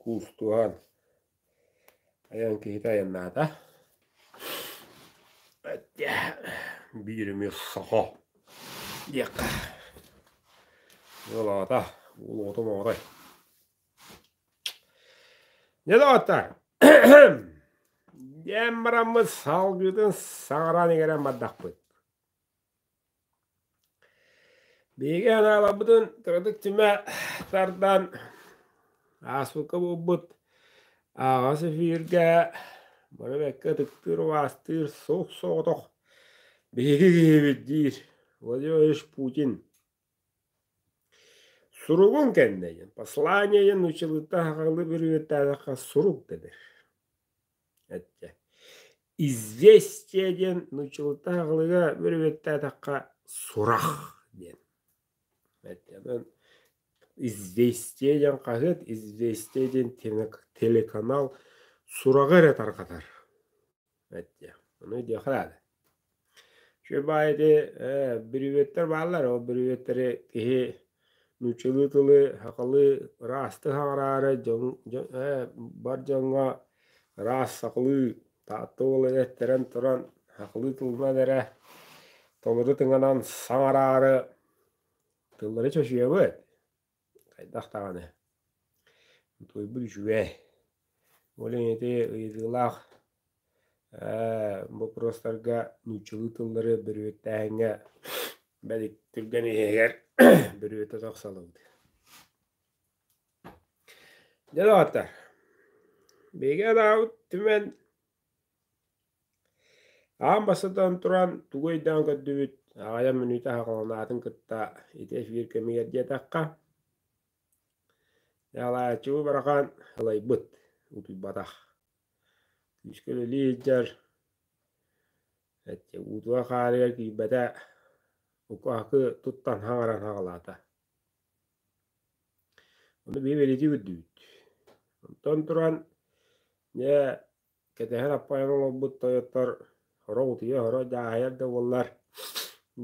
Куустуһан айан киһитэ айаннаата. Биир эмиэ саха диэххэ ыал аҕата уол оҕото маҕатай. Дьэ доҕоттор диэн бараммыт салгыытын саҕалаан игэрэн бардахпыт. Биһиги анааламмытын кыратык түмэ тардан ааспыкка буолбут аҕас эфиргэ бары ытыктыыр убаастыыр суох соҕотох биһиги киһибит диир Владимирович Путин суругун кэннэ посланиены училытта сахалыы бүрүөттээтэххэ сурук да бир известия диэн нуччулутааҕылыга бөлүбүөттээтэххэ сурах диэн известия диэн хаһыат известия диэн телеканал сураҕы эрэ тарҕатар ону диэххэ наада Үчүгэй баай ити ээ бүрүөттэр бааллар, ол бүрүөттэри киһи нууччалыы тылы сахалыы ыраастыы саҕараары дьон ээ бар дьоҥҥо ыраас сахалыы таатта уол эттэрэн туран сахалыы тылынан эрэ толору тыҥанан саҥараары тыллары чочуйабыт. хайдах даҕаны утуйбут үчүгэй. Ол ити ыйытыылаах боппуруостарга нууччалыы тыллары бөрүөттээһиҥҥэ бэл түргэн иһигэр бөрүөтэ тахсаллыбыт. Дьэ даҕатар биһиги анаабыт түмэн Аан бастатан туран, тугу өйдөөн көрдүбүт, аҕайан мүнүүтэ аһаҕаланаатын кытта ити эфир кэмигэр диэтэххэ, Николаевич бу барахан ылайбыт, утуйбатах. Күүскэ үлэлии сылдьар, уутугар хаарыгар киирбэтэ, укаакы туттан хаҥаран хаҕалаата. Ону биһи бэлиэтии көрдүбүт. Онтон туран, дьэ, Кэтэһэр аппайар олорбут тойоттор оро утуйа оро дьааһайар да буоллар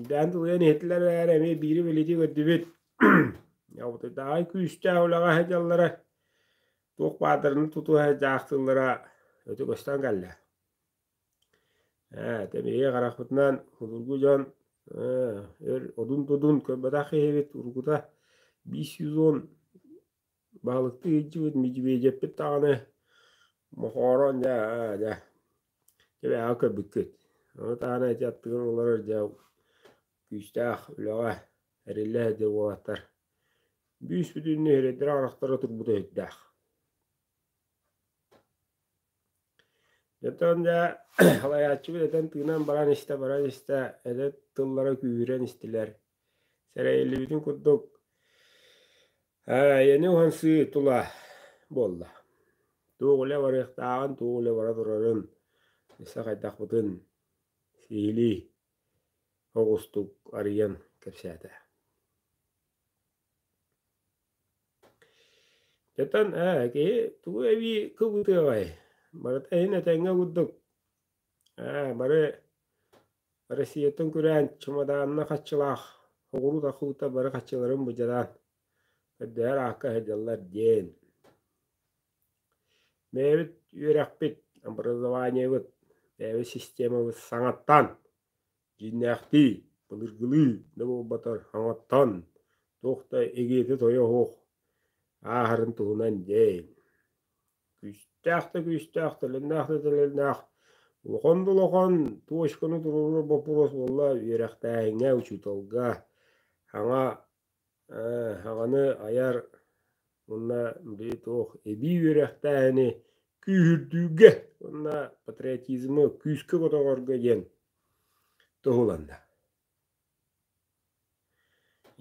дээн тулуйан иһэтилэр эрээри эмиэ биири билитии көрдүбүт утуйдаҕай күүстээх үлэҕэ сылдьаллара туох баадырын тутуһа дьаахтыыллара өтө көстөн кэллэ ээ тэмиги харахпытынан судургу дьон өр одун-тудун көрбөтөх киһибит урукута биис сүүс он Баалыктыы сылдьыбыт Медведевпит даҕаны мохоорон дьэ ээ дьэ кэбиһэ көрбүккүт. Ону даҕаны ити аттыгар олорор дьэ күүстээх үлэҕэ эриллэ сылдьар уолаттар бүүс бүтүн нэһилиэктэрэ арахтара турбута сүрдээх. Оттон дьэ салайааччыбыт этэн тыынан баран истэ баран истэ эдэр тыллара күүһүрэн истилэр сэрэйиллибитин курдук Эйэни уһансыы тула буолла. Туох үлэ барыахтааҕын, туох үлэ бара турарын, өссө хайдахпытын сиһилии оҕустук арыйан кэпсээтэ. Дьэтэн ээ киһи тугу эбии кыбытыаҕай? Барыта иһин этэҥҥэ курдук Ээ, бары Россияттан күрээн чымадаанна хаччылаах оҕуруу тахыыта бары хаччыларын быдьараан көрдөһөр аакка сылдьаллар диэн. Бэйэбит үөрэхпит, образованиебыт, бэйэбит системабыт саҥаттан дьиҥнээхтии былыргылыы да буолбатар саҥаттан туох да игиити-тойо суох ааһарын туһунан диэн. күүстээх да күүстээх, тэлиннээх да тэлиннээх, улахан да улахан точканы туруоруур боппуруос буолла үөрэхтээһиҥҥэ, учууталга саҥа саҥаны айар уонна били туох эбии үөрэхтээһини күүһүрдүүгэ уонна патриотизмы күүскэ көтөҕөргө диэн туһуланна.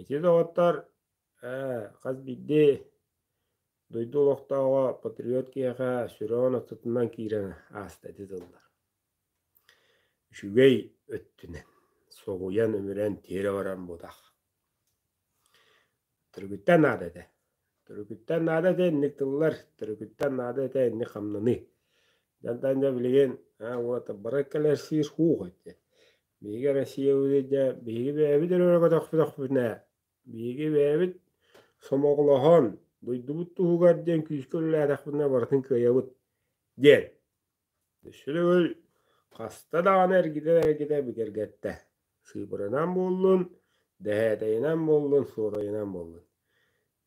Ити доҕоттор Ээ, хас биирдии дойду олохтооҕо патриот киһиэхэ сүрэҕин аттытынан киирэн ааста ити тыллар. Үчүгэй өттүнэн соһуйан, өмүрэн, тиэрэ баран бутах. Төрүкүттэн наада этэ. Төрүкүттэн наада этэ инник тыллар, төрүкүттэн наада этэ инник хамнаныы. Дьантан да билигин вот бары кэлэрсиир хуух эти. Биһиги Россия дьэ биһиги бэйэбит өрө көтөхпүтөхпүтүнэ Биһиги бэйэбит сомоҕолоһон, дойдубут туһугар диэн күүскэ үлэлээтэхпинэ барытын кыайабыт диэн. Сүрүгүл хаста даҕаны эргитэ-эргитэ бигэргэттэ. Сыыбырынан буоллун, дэһээтэйинэн буоллун, суорайынан буоллун.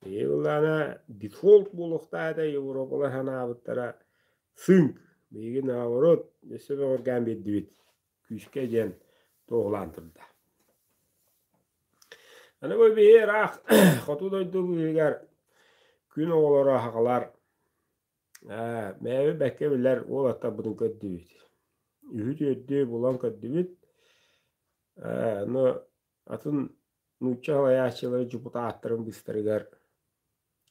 Биһиги былаана дефолт буолуохтаах этэ Европалар санаабыттара сынк. Биһиги наоборот өссө бөҕөргөөн биэрдибит. күүскэ диэн туоһулаан турда. Аны бу биһи ыраах хоту дойду быһыгар күн оҕолоро аһаҕалар мээби бэккэ билэр уолаттарбытын көрдүбүт. Үһү-түөрдү булан көрдүбүт. Ну, атын нуучча салайааччылары депутаттарын быстарыгар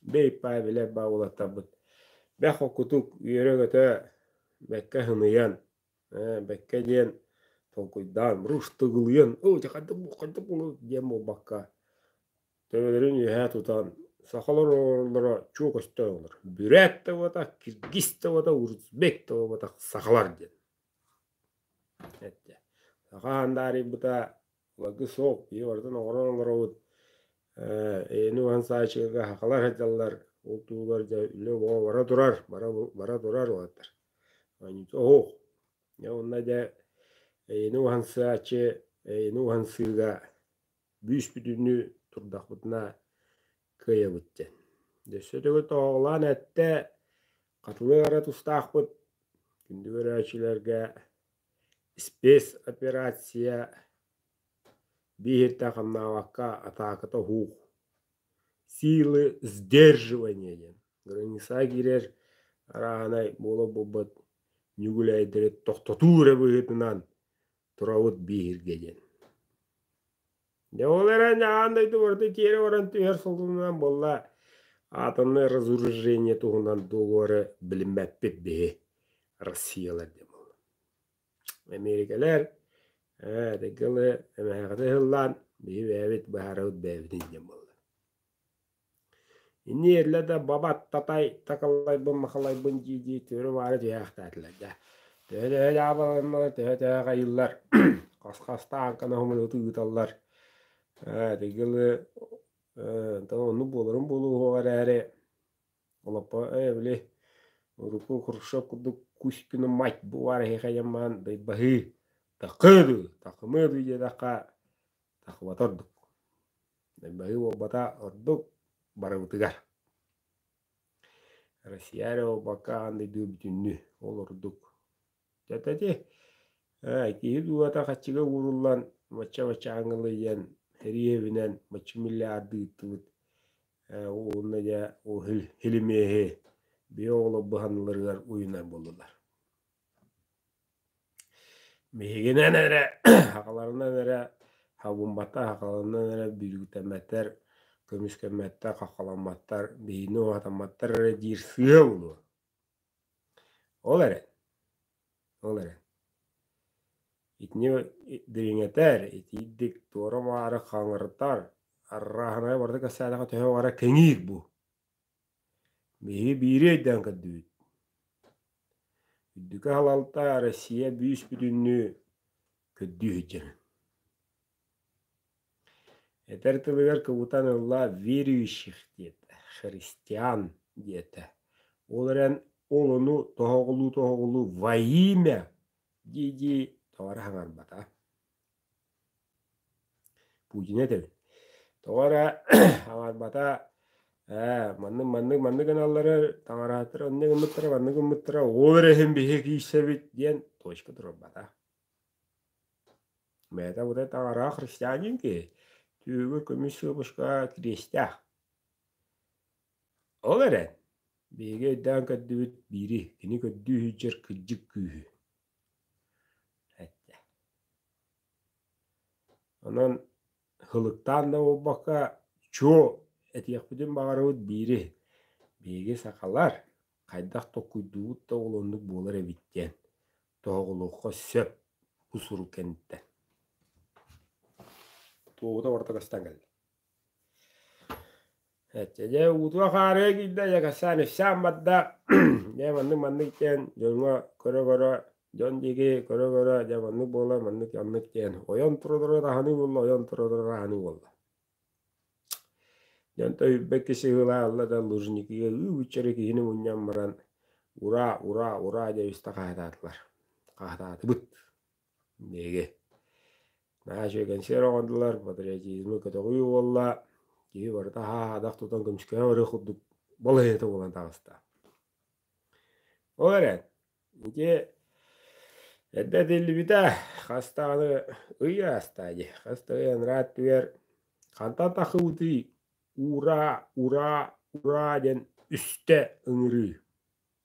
бэйпаа билэр ба уолаттарбыт бэх окутук үөрө-көтө бэккэ хыныйан бэккэ диэн толкуйдаан руштугулуйан оо дьэ хайдах хайдах диэн буолбакка төбөлөрүн үөһэ тутан сахалар оҕолоро чуо көстөр оҕолор бүрээт да буолбатах киргиз да буолбатах урузбек да буолбатах сахалар диэн саха хандаарыйбыта Лагы сол, ийэбартан оҕорон олоробут. Эйэни уһан саайчыга хахалар сылдьаллар, ол тугугар дьэ үлэ боо бара турар, бара бара турар уолаттар. Оһуох, дьэ онно дьэ эйэни уһан сааччы, эйэни уһан сыыга бүүс-бүтүннүү турдахпытына кыайабыт диэн. Өссө төгүл тоһоҕолоон эттэ, хатылык эрэ тустаахпыт, күндү көрөөччүлэргэ Спецоперация бииһиртэ-хамнаабакка атааката уһуух силы сдерживания диэн граница киирэр арааһынай буола буолбут ньүгүлээйдэри тохтотуу эрэ быһыытынан турабыт бииһиргэ диэн Дьэ ол эрэн аан дойду барыта тиэрэ баран түһэр сылынан буолла атомное разоружение туһунан договоры билиммэппит биһи Россиялар диэн буолла. Америкалар ээ тыгылы эмээхини ыһыллаан биһи бэйэбит быһаарабыт бэйэбитин диэн буолла. Инниэллэ да бабат татай такалайбын-махалайбын дии-дии түөрү-маары түһээхтээтилэр дьэ төһө-төһө дьаабыланнылар төһө-төһө аҕайыллар хас-хастаан кынаһымалыты ыыталлар эһиги ылы оннук буоларын буолуоҕа эрээри олоппо ээ били урукку Хрущев курдук Кузькины мать буваар эһиэхэ айаммаан дайбаһыы такыы дуу такымыы дуу диэтэххэ тахыбата ордук Ньырбайы уолбата ордук барыбытыгар. Россия эрэ буолбакка аан дойду бүтүннүү ол ордук. Тэтити айтиһы дууһата хаччыга ууруллан мачча-мачча ангылыйан риэбинэн маччы миллиарды ыыттыбыт уонна дьэ ол хилимиэһи бэйэ оҕолор быһаныларыгар уйунар буоллулар. Биһигинэн эрэ аҕаларынан эрэ абыммата аҕаларынан эрэ бүргүтэммэттэр көмүскэммэттэр хаххаламматтар биһини уһатамматтар эрэ диир сыал буолуо ол эрэн ол эрэн итини дириҥэтэр итиитик туора-маары хаҥыртар арааһынайа барыта кэпсээтэҕэ төһө баҕара кэҥиир бу Биһиги биири өйдөөн көрдүбүт. Үрдүкү салалта Россия бүүс-бүтүннүү көрдүү сылдьарын. Этэр тылыгар кыбытан ылла верующих диэт, христиан диэтэ. Ол эрэн олону тоһоҕолуу-тоһоҕолуу во имя дии-дии тоҕо эрэ хаҥарбата. Путина этэбин. Тоҕо эрэ аҕарбата ээ маннык маннык маннык гыналлара таҥарааттара онно гыммыттара маннык гыммыттара ол эрэ иһин биһиги киирсэбит диэн точка турбата. Бэйэтэ бу таҥараах христианин киһи түөгэ көмүс сыыпуска тириэстээх. Ол эрэн биһиги өйдөөн көрдүбүт биири кини көрдүү сылдьар кырдьык күүһү Эттэ. Онон һылыктаан да буолбакка, чуо этиэхпитин баҕарабыт биири. Биһиги сахалар хайдах толкуйдуубут да оҕолоннук буолар эбит диэн тоһоҕолуохха сөп бу сурук кэнниттэн. Туоһута барыта көстөн кэллэ Дьэ утуо-хаарыа киирдэ Дьаакассаан ифсаан барда дьэ маннык-маннык диэн дьоҥҥо көрө-көрө дьон диэки көрө-көрө дьэ маннык буолла маннык-маннык диэн ойон тураллара аһыныы буолла ойон тураллара аһыныы буолла дьон тойүрбэт киси ыһыылаһалла да лужникига ыы быччары киһини мунньан баран ура ура ура дьэ истэ хаһытаатылар хаһытаатыбыт Биһиги наһаа үчүгэй кэнсиэр оҥордулар, патриотизмы көтөҕүү буолла, киһи барыта аһаах-аадах тутан көмүскэһэ барыах курдук балаһыанньата буолан таҕыста. Ол эрэн ити эрдэ этиллибитэ хас даҕаны ый аастаа дии, хас да ый анараа өттүгэр хантан тахсыбытый «Ура! Ура! Ура!» диэн үстэ ыҥырыы.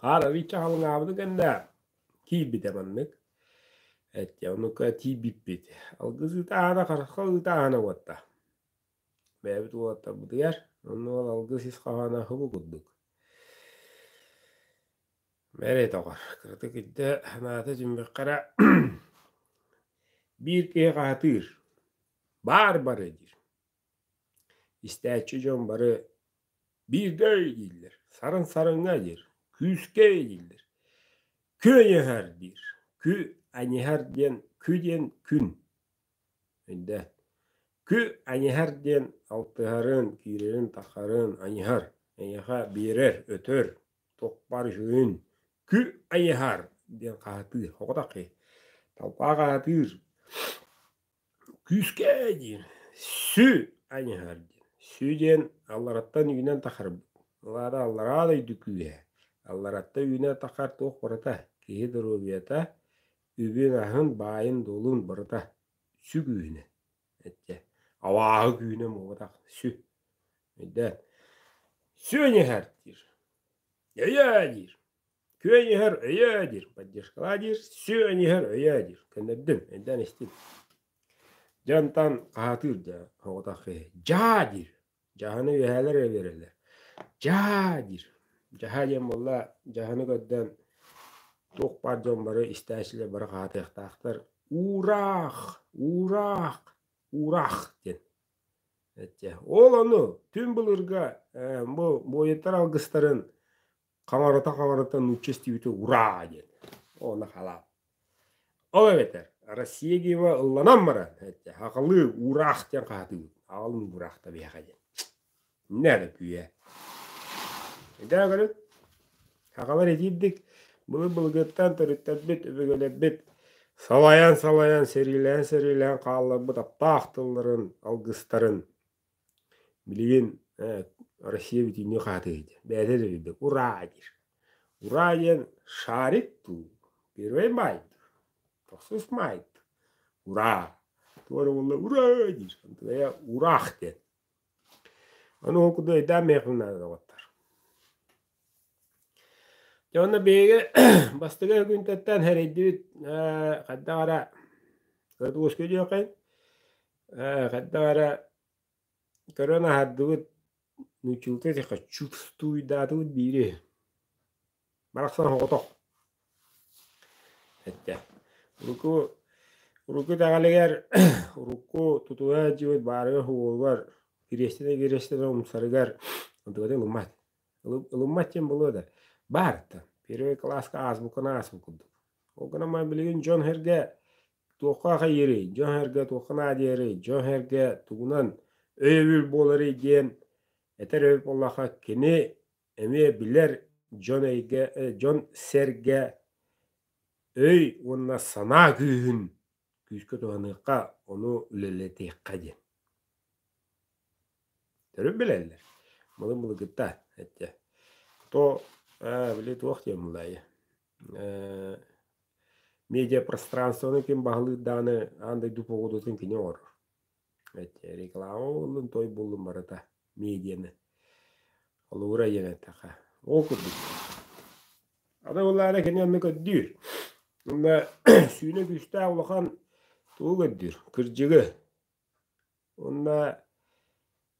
Хаарабыйча халыҥаабыны кэннэ киирбитэ маннык. Эттэ оннукка тиийбиппит. Алгыс ыытааһына, харысха ыытааһына буолта. Бэйэбит уолаттарбытыгар онно ол алгыс ис хоһооно һубу курдук. Мэрэтоҕор кыратык идэ санаата дьиммэххэ эрэ биир киһи хаһытыыр: «Баар бары» диир. Истээччи дьон бары «Биирдэ» дииллэр, «Сарыҥ-сарыҥа» диир, «Күүскэ» дииллэр, «Күөйэһэр» диир, «Кү аньыһар» диэн «Кү» диэн «күн» эрдэ, «Кү аньыһар» диэн алтыһарын, киирэрин-тахсарын аньыһар, эйиэхэ биэрэр, өтөр, туппар үһүн, «Кү айыһар» диэн хаһытыы, соҕотох киһи, талбаах аһатыыр Күүскээ диэн сү ань аһар диэн. Сү диэн аллараттан үүнэн тахарбыт. Ылаары аллараа дойду күүһэ. Алларатта үүнэ тахар туох барыта. Киһи доруобуйата, үбүн аһын, баайын-дуолун барыта сү күүһүнэ. Этчэ, авааһы күүнэ муобатах сү. Өйдөөн. Сү ань аһар диир. Өйөө диир. Күөньүһэр өйөө диир, поддержкалаа диир, сүөнүһэр өйөө диир. Көннөрдүм, эдэн истин. Дьонтан хаһатыыр да оҕотах дьаа диир. Дьаһаны үөһээлэр өлөрөлөр. Дьаа диир. Дьаһа диэн буолла дьаһаны көрдөн туох баар дьон бары истээчилэр бары хаатыахтаахтар. Уураах, уураах, уураах диэн. Эттэ. Ол ону түн былырга бу буойуттар алгыстарын хаҥарыта-хаҥарыта нучча истибите ураа диэн ону халаат ол эбэтэр Россияга ылланан баран хахалыы уураах диэн хаатыыбыт аҕалын уураахта биһэхэ диэн иннэ эрэ күйэ идаа көрү хахалар итиирдик былы былыгыттан төрүттэрбит өбүгэлэрбит салайан салайан сэриилээн сэриилээн хаалларбыт аптаах тылларын алгыстарын Билигин Россия бүтүннүү хаһатыыт бэйэтэ да үрдүк «Ураа!» диир. «Ураа!» диэн шарик дуу, первый май дуу, тохсус май дуу, «Ураа!» туган угулла «Ураа!» диир. Антыгая «Ураах» диэн. Ону холкутук өйдөөн миэхэ наадалар Дьэ уонна биһиги бастакы күнтэн эрэйдибит хайдах эрэ кырдугушка диэххин хайдах эрэ көрөн аһардыбыт нуучулка этиэххэ чувствуйдаатыбыт биири барахсан соҕотох эттэ урукку урукку итэҕэлигэр урукку тутуһа илдьибит баарыгар уолугар кириэстэнэ кириэстэнэ умсарыгар ылыммат ылыммат диэн буолуо да баарыттан первый кылааска аасбукканы ааспыт курдук ол гынан баран билигин дьон сэргэ туохха аҕыйыырый дьон сэргэ туохха наадыйарый дьон сэргэ тугунан өйөбүл буоларый диэн этэр эбит буоллахха кини эмиэ билэр дьон эйгэ дьон сэргэ өй уонна санаа күүһүн күүскэ туһаныахха, ону үлэлэтиэххэ диэн. Төрүт билэллэр. Мылы мылыгыта, этчэ. То, э, били туох диэн мылайы. Э, медиапространствоны ким баһылыыр даҕаны аан дойду походутун кини оҥорор. Реклама буоллун, той буллун барыта медианы. Олуура диэн эттэхэ. Ол курдук. Ата буллаана кини онну көрдүүр. Онна сүүнэ күүстээх улахан тугу көрдүүр? Кырдьыгы. Онна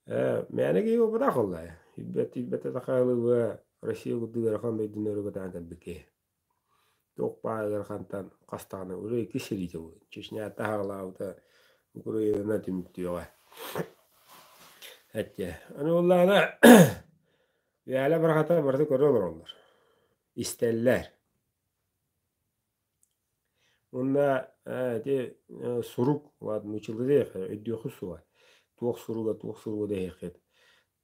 мээнэги опытах оллая. Ирбет ирбете такалыва Россия курдук арахан дойдунары батаан кэлбикки. Туох баайылар хантан хастаҕына уруй икки сириитэ буолуо чечня таһаҕалаабыта куруйана түмүктүөҕэ эттиэ аны буоллаҕына Вяля барахата барыта көрө олороллор истэллэр уонна ити сурук уот мучилыдеев өйдүөххү суоҕа туох суруга туох суруга дэһиэххит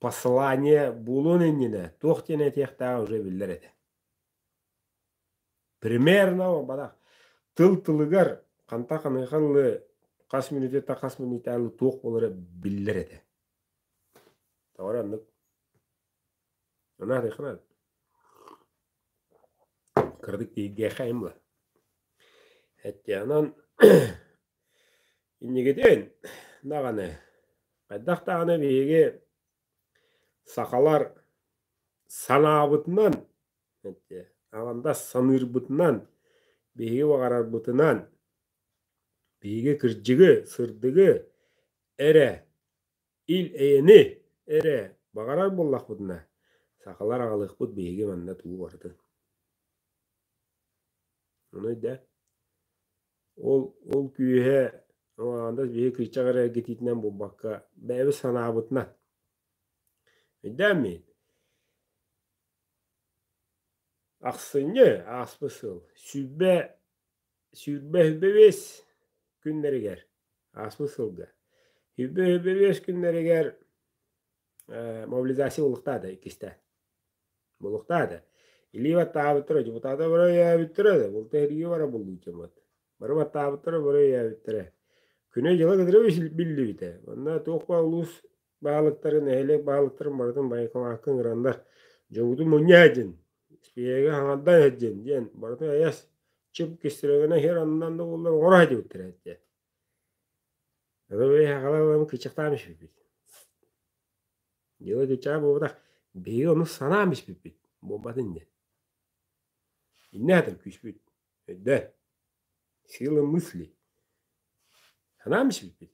послание буолуон иннинэ туох диэн этиэхтээҕэ уже биллэр этэ Примерно бара тыл тылыгар ханта ханыахан лы хас мүнүүтэ хас мүнүүтээн туох буолара биллэр этэ. Тоҕо оннук анаатыйханан кыратык тиһигиэхэйимла эттиэнэн иннигитин даҕаны хайдах даҕаны биһиги Сахалар санаабытынан, аҕандас саныырбытынан, биһиги баҕарарбытынан биһиги кырдьыгы, сырдыгы эрэ, ил эйэни эрэ баҕарар буоллахпытына, сахалар аҕалыахпыт биһиги манна тугу барытын. Ону өйдөө. Ол ол күүһэ Романдас биһи кырчаҕы эрэ эргитиитинэн булбакка бэйэбит санаабытынан. Өйдөөн Ахсынньы ааспыт сыл сүүрбэ сүүрбэ сүүрбэ биэс күннэригэр ааспыт сылга сүүрбэ сүүрбэ биэс күннэригэр мобилизация булуктаа да иккисте булуктаа да илии баттаабыттар дьокутаата бары өйөөбүттэрэ да булта эргии бара булуутумат бары баттаабыттара бары өйөөбүттэрэ күнү дьыла кытары биллибитэ онно туохпа улуус баһылыктарын нэһилиэк баһылыктарын барытын байкалаакка ыҥыраннар дьогутун мунньа эдин испиэге хаҥардан эддин диэн барытын эйэс чып кистирэгэнэ иһэр аннан да буллар оҥоро дьибиттэр этте кычахтаан испиппит дьиэбэ кычаа буолбатах биһиги ону санаан испиппит буолбат иннэ иннэ атым күүспүт өйдө силы мысли санаан испиппит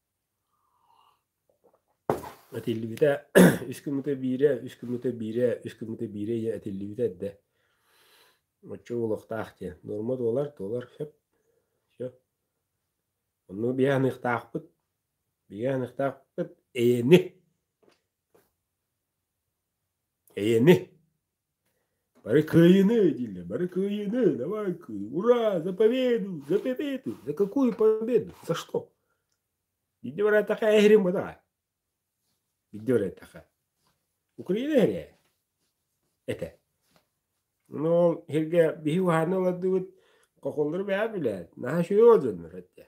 Этиллибитэ үс кумута биирэ, үс кумута биирэ, үс кумута биирэ ийэ этиллибитэ эрдэ. Оччо уолуохтаах диэн. Нуорма туолар, туолар, сөп, сөп. Онно биһи аныахтаахпыт, биһи аныахтаахпыт эйэни, эйэни. Бары кыайыны, дииллэр, бары кыайыны, давай, ура, за победу, за победу, за какую победу, за что? Идди врать такая гримма, давай. Идди врать такая. Украина эрэ этэ. Но сиргэ биһи уһаана олордубут хохоллору бэйэ билээт, наһаа үчүгэй олдоннор этэ.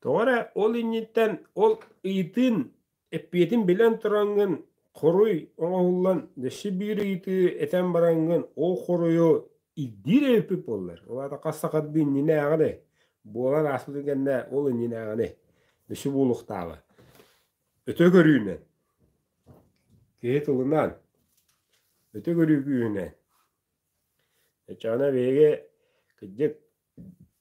Тоҕо эрэ ол инниттэн ол ыйытыын, эппиэтин билэн тураҥҥын, хоруй оҥоһуллан өссө биир ыйытыы этэн бараҥҥын, ол хоруйу ирдиир эбиппит буоллар, ол аата хас сахардыы иннинээҕини буолан ааспытын кэннэ ол иннинээҕини өссө буолуохтааҕа. Өтө көрүүнэн, киһи тылынан, өтө көрүү күүһүнэн. Эчэҕинэ биһиги кырдьык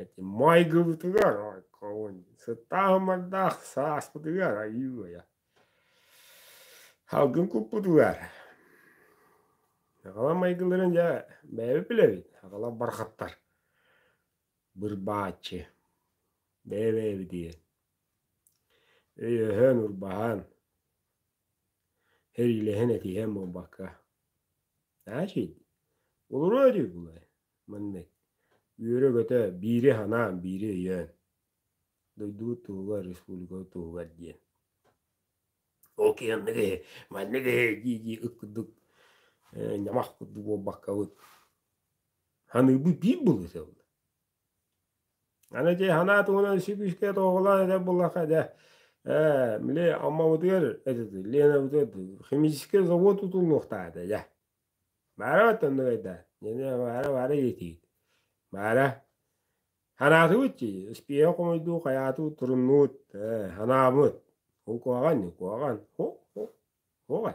Эти майгыбытыгар ойкобун сыттаахымардаах сааспытыгар айыы-уйа салгын куппутугар аҕалар майгыларын дьэ бэйэбит билэбит аҕалар барахаттар бырбааччы бэйэ-бэйэбитигэр өйөһөн урбаһан Сэриилэһэн этиһэн буолбакка, «Значит, олороо дойгулай маннык үөрэ-көтө биири санаан, биири өйөөн, дойдубут туһугар, республикабыт туһугар» диэн. Ол киһи анны киһи манна киһи дии-дии ык курдук ньамах курдук буолбаккабыт, саныырбыт биир былыта буолла. Аны дьэ санаа туһунан сибиискэ тоҕолоон этэр буоллахха дьэ ээ били Аммабытыгар Ленабытыгар химическэй завод тутуллуохтаах этэ дьэ баара оттон нугайдаа баара баара иэтиит баара санаатыбыт дии успеха хомойдуу хайаатыбыт туруннубут ээ санаабыт куһаҕан ди куһаҕан һук һук һук э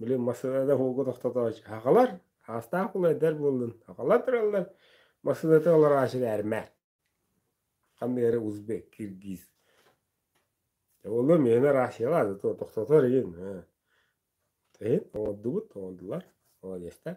Блин, массыынаны ууга тохтотооччу аҕалар, саастаах кулайдар буоллун, аҕалан тураллар, массыынатын олорооччу сэрмээт. Ханныгары узбек, киргиз. Оҕолор миэнэ Россияҕа тохтотор иһин. Иһин оҥордубут, оҥордулар, молодецтар.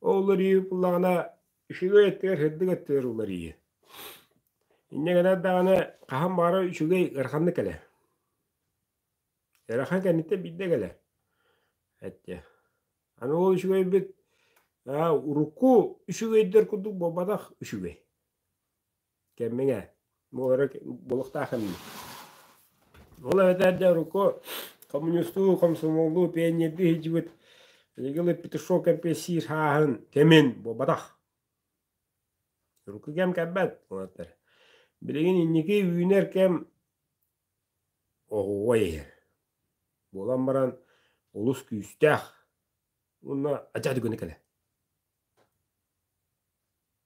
Ол уларыйыы ыллаҕына үчүгэй өттүгэр сырдык өттүгэр уларыйыы. Инньэ гынар даҕаны хаһан баара үчүгэй ыараханнык кэлэр. Ыарахан кэнниттэн биирдэ кэлэр. Эттиэ. Аны ол үчүгэйбит урукку үчүгэйдэр курдук буолбатах үчүгэй. кэммиҥэ буолара буолуохтаах эми ол эбэтэр дьэ урукку коммунистуу комсомолу пионердуу сылдьыбыт билигин петушок кэмпиэсиир хааһын кэмин буолбатах урукку кэм кэлбэт уолаттар билигин инники үүнэр кэм оҕуруой иһэр буолан баран олус күүстээх уонна адьас дүгүнэ кэлэ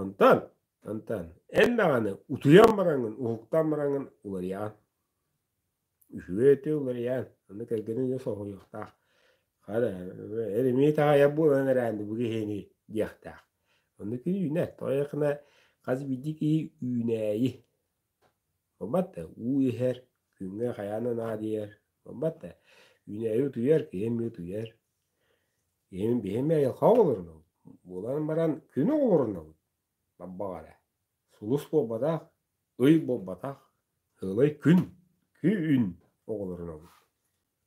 Онтон онтон эн даҕаны утуйан бараҥҥын, уһуктан бараҥҥын уларыйаҕын. Үчүгэй өтө уларыйаан, аны кэргэнэ өйө соһуйуохтаах. Хата эримии таҕайар буолан эрээри бу киһини диэхтээх. Ону кини үүнэр. Тоойукна хас биирдии киһи үүнээйи. Буолбат да уу иһэр, күҥҥэ хайаан да наадыйар. Буолбат да үүнээйи утуйар, киһи эмиэ утуйар. Ийэм биһиэме айылҕаҕа олорунабыт. Буолан баран күнү олорунабыт. Барбаҕа эрэ. Сулус буолбатах, ый буолбатах, сылай күн, күн оҕолорунабыт.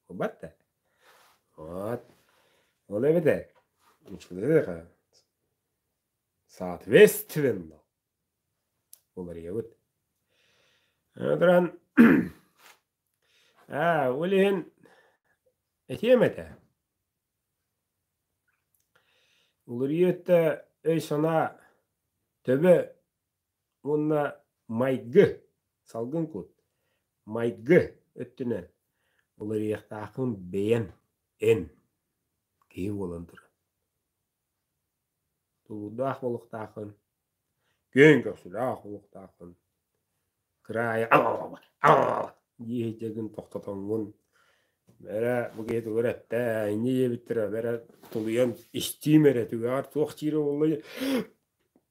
Буолбат да. От. Ол эбэтэр ыччатыаха соответственно уларыйабыт. Аны туран Ээ, ол иһин этиэм этэ. Уларыйа өттө өй-санаа төбө уонна майгы, салгын кут, майгы өттүнэн уларыйыахтааххын бэйэн эн, киһи буолан туран. Тулуурдаах буолуохтааххын, күөн көхсүлээх буолуохтааххын, кыраайы диэһиттэргин тохтотоҥҥун, эрэ бу киһи тугу эрэ эттэ, инньэ диэбиттэрэ, эрэ тулуйан истиим эрэ, түгэҕэр туох диирэ буоллай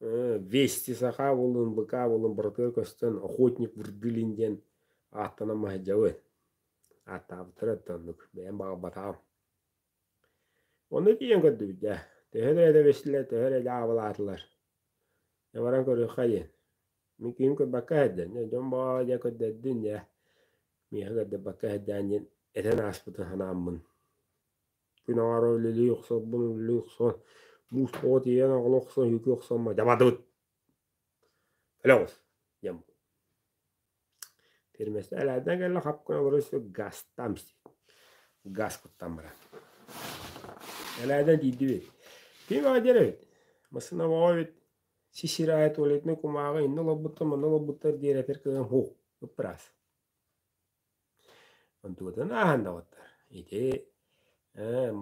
Вести саха буоллун, быка буоллун быратыгар көстөн Охотник вырдылин диэн ааттанан маһайдьабыт. Ааттаабыттар это оннук, бэйэм баҕарбатаҕым. Оннук ийэн көрдүбүт дьэ. Төһө да эдэбистилэр, төһө да аабылаатылар. Дьэ баран көрүөххэ диэн. Мин киһим көрбөккө иһэрдэн, дьэ дьон баҕа дьэ көрдөрдүн дьэ, миэхэ көрдөбөккө иһэрдээн диэн этэн ааспытын санааммын. Күн аҕара үлэлии охсорбун үлэлии охсон, мууспаҕа тиийэн аҕала охсон, үһүкү охсон маһы дьабадыбыт. Өлө оҕус диэн Фирмаста элээннэ кэллэ хап гына олорон истэ газтан истибит. Газ куттан баран. Элээннэ тиийдибит. Ким аҕа диэн эбит. Массыына баҕа эбит. Сисир аайы туалетнай кумааҕы инна олорбуттар манна олорбуттар диэри этэр кыһан һуу ыппыраас. Онтукутун ааһыннаҕыттар. Ити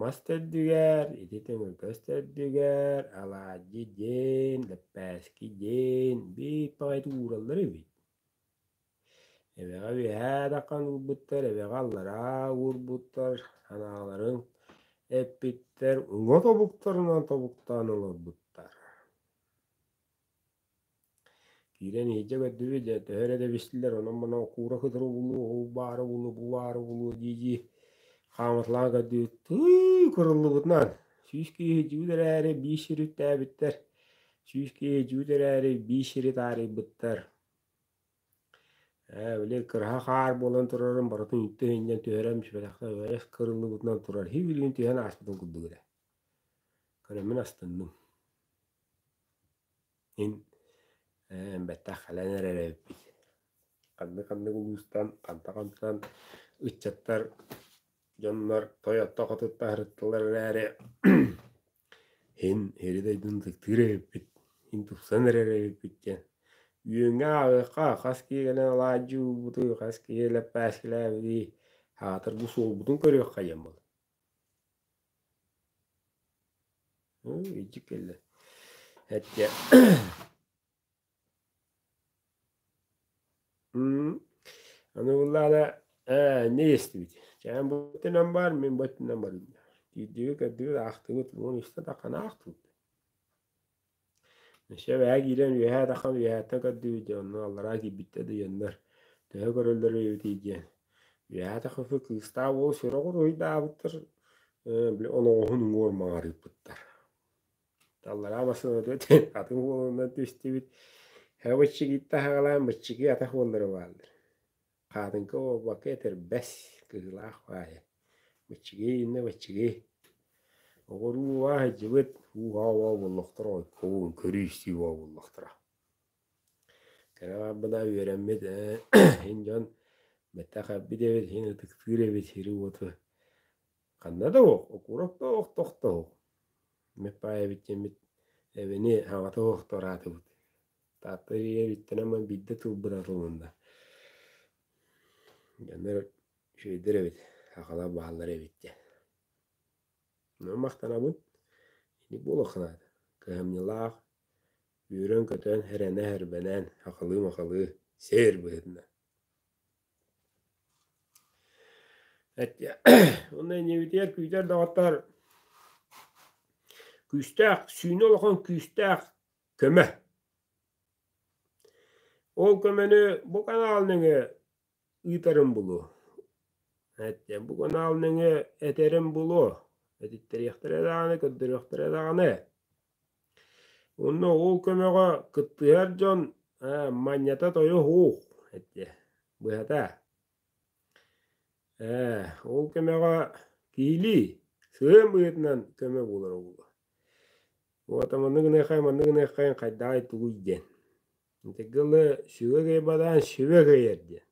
мас төрдүгэр, ити төҥүлкэс төрдүгэр алаадьы диэн, лэппээски диэн биир баҕайытык уураллар эбит. Эбэҕэ үөһээ тархан уурбуттар, эбэҕэ аллараа уурбуттар, анааларын эппиттэр, уҥа тобуктарынан тобуктаан олорбуттар. Киирэн иһирдьэ көрдүбүт дьэ төһө эрэ да бистилэр онон-манан куура кытары булуо, уу баара булуо, бу баара булуо дии-дии хаамыталаан көрдүбүт, тыы кырыллыбытынан сүүс киһи иһирдьибит эрээри биис сири үктээбиттэр, сүүс киһи иһирдьибит эрээри биис сири таарыйбыттар. Ээ били кыраһа хаар буолан турарын барытын үтэ иһиннэн түһэрэн сүбэтэхтэн үрэс кырыллыбытынан турар, иһи билигин түһэн ааспытын курдук эрэ Көрөммүн астынным. Мин ээн бэттэх кэлэн эрэр эбиппит. Ханнык-ханнык улуустан, ханта-хантан ыччаттар, дьоннор тойотто хотуттаһырыттылар эрээри иһин иһири дойдуну ытыктыыр эбиппит, иһин тупсан эрэр эбиппит диэн. Үөҥҥэ ааҕыахха, хас киһи кэлэн алаадьы уурбутуй, хас киһи лэппээскилээбитий, аатыр бу суолбутун көрүөххэ диэн буолар. Уу, илдьик кэллэ. Этгэ М, аны буллаана ээ не истибит. Чээн буттунан бар, мин буттунан барым. Киирдибит, көрдүбүт, аахтыбыт. Уон истэ таххана аахтыбыт. Өссө эбэһэ киирэн үөһээ атахан үөһээттэн көрдүбүт дьэ онно аллараа киирбиттэр да дьоннор төһө көрөллөр эбитий диэн үөһээ атахыфы кыыстаах уол сороҕор уруһуйдаабыттар ээ били оноҕоһун уҥуор маҥарыйбыттар аллараа массыынабыт этэ атын уолунан түстүбүт һэ быччыгыйта аһаҕалаан быччыгый атах уоллара бааллар Хаатыҥка уобакка этэрбэс, кыһылаах баайа. Баччыгый иннэ баччыгый. Оҕоруу убаа сылдьыбыт, уу-хаа убаа буоллахтара, ойкобун көрүү-истии убаа буоллахтара. Кэлэ барбына үөрэммит ин дьон бэттэх эбит эбит, иһин ытыктыыр эбит сири-уоту. Ханна да уох, окуурап да уох, тохто уох. Иммит баайабыт диэммит эбэни хаҥата уохтуораатыбыт. Таатта эрийээриттэн ама биирдэ тыл быраатылынна. Дьоннор үчүгэйдэр эбит, аҕалар бааллар эбит диэн. Онон махтанабын. Итинник буолуохха наада. Кыһамньылаах, үөрэн-көтөн, эрэнэ-эрбэнэн, ахылыы-махылыы сир быһыытынан. Онно иннибитигэр күүтэр доҕоттор күүстээх, сүүнэ улахан күүстээх көмө. Ол көмөнү бу канал нөҥө ыытарын булуу. Эттиэн бу канал нөҥө этерин булуу. Этиттериэхтэрэ даҕаны, көрдөрүөхтэрэ даҕаны. Онно ол көмөҕө кыттыһар дьон манньата тойо һуух. Эттиэ. Быһата. Ээ, ол көмөҕө киилии, сыам быһыытынан көмө буолара буолуо. Уота маннык гыныаххайын, маннык гыныаххайын хайдаҕай тугуй диэн. Итинтэн ыла сүбэ кыайбатаҕын сүбэ кыайар диэн.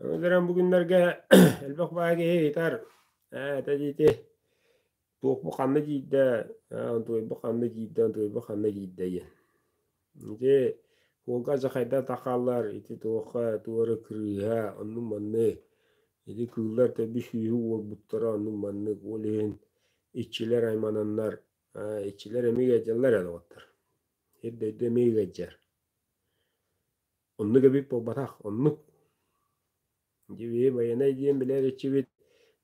Аны туран бу күннэргэ элбэх баҕа киһи ыйытар: «Ээ, этэ диити Туохпу ханна киирдэ, Антуайбы ханна киирдэ, Антуайбы ханна киирдэ диэн. Ити уолга дьахайдар тахаллар, ити туохха туора кырыыһа, онну-манны, ити кыыллар төрдү сүүһү уолбуттара онну-маннык, ол иһин иччилэр аймананнар, иччилэр эмиэ ыалдьаллар ээ доҕоттор. Эр дойду эмиэ ыалдьар. Оннук эбит буолбатах, оннук. дьиви байанай диэн билэр иччибит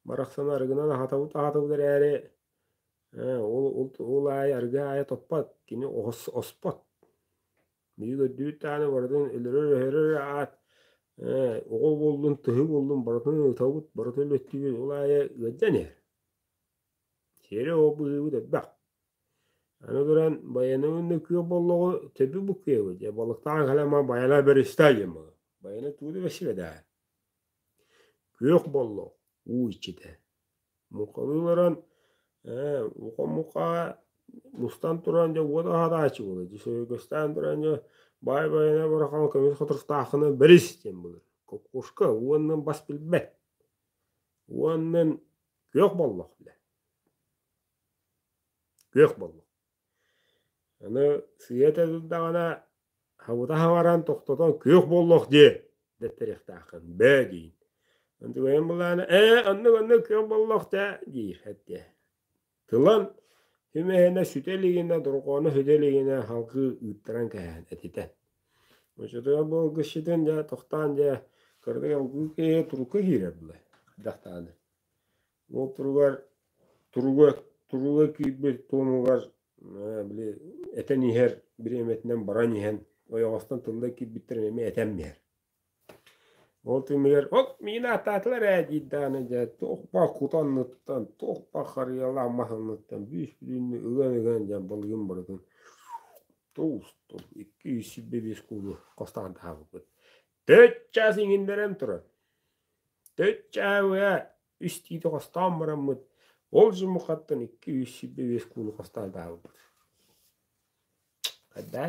барахсан арыгынан аһатабыт аһатабыт эрээри ээ ол ол ол аайы арыгы аайы топпот кини ос оспот биир көрдүүт дааны барытын өлөрөр өһөрөр аат ээ оҕо буоллун тыһы буоллун барытын ытабыт барытын өлөттүбүт ол аайы ыалдьан иһэр Сиэрэ-уо быһыыбыт элбэх. Аны туран байыны уонна күөх боллоҕу төбү буккуйабыт дьэ балыктаан кэлэн маа байана бэристаа диэн баҕа. Байыны тугу да билсибэт ээ. Күөх боллох уу иччитэ. Муккалыы олорон ээ ухам муккаҕа мустан туран дьэ уот аһатааччы буолар дьэ сөбүгэстээн туран дьэ баай байына бараххан көмүс хотуртааххына бэрис диэн былыр. Кокошка уонна бас билбэт. Уоннан Күөх боллох билэ. Күөх боллох. Аны сыйа этэрдэҕинэ, хабыта хабаран тохтотон күөх боллох дии дэттэриэхтээххин. Бээ диин. Ындыгайан былаана, ээ, анны-манны күөх боллох таа диир әттэ. Тылан хүмэһинэ сүтэ илигинэ, дорҕоону хүтэ илигинэ халкы ыыттаран кэһээн этитэ. Очотугар буолга ситин дьэ тохтаан дьэ кыргый олгуу киһи турука киирэр былай дахтааны. Ол туругар туруга туруга киирбит туомугар били этэн иһэр бириэмэтинэн баран иһэн ойоҕостон тылла киирбиттэр эмиэ этэн биһэр. Ол түмүгэр «Ол миин ааттаатылар ээ» диир даҕаны дьэ туох-па кутанныттан, туох-па харыйалаах маһыныттан бүүс-бүтүннүү ыган-ыган дьэ былыгын барытын туустум. Икки-үс сирбэ-биэс куулу хостаахдаһабыппыт. Төрүт чаас иҥиннэрэн турар. Төрүт чааһы үс тиити хостоон бараммыт, ол жумухаттан икки-үс сирбэ-биэс куулу хостаахдаһабыппыт. Хайдаа?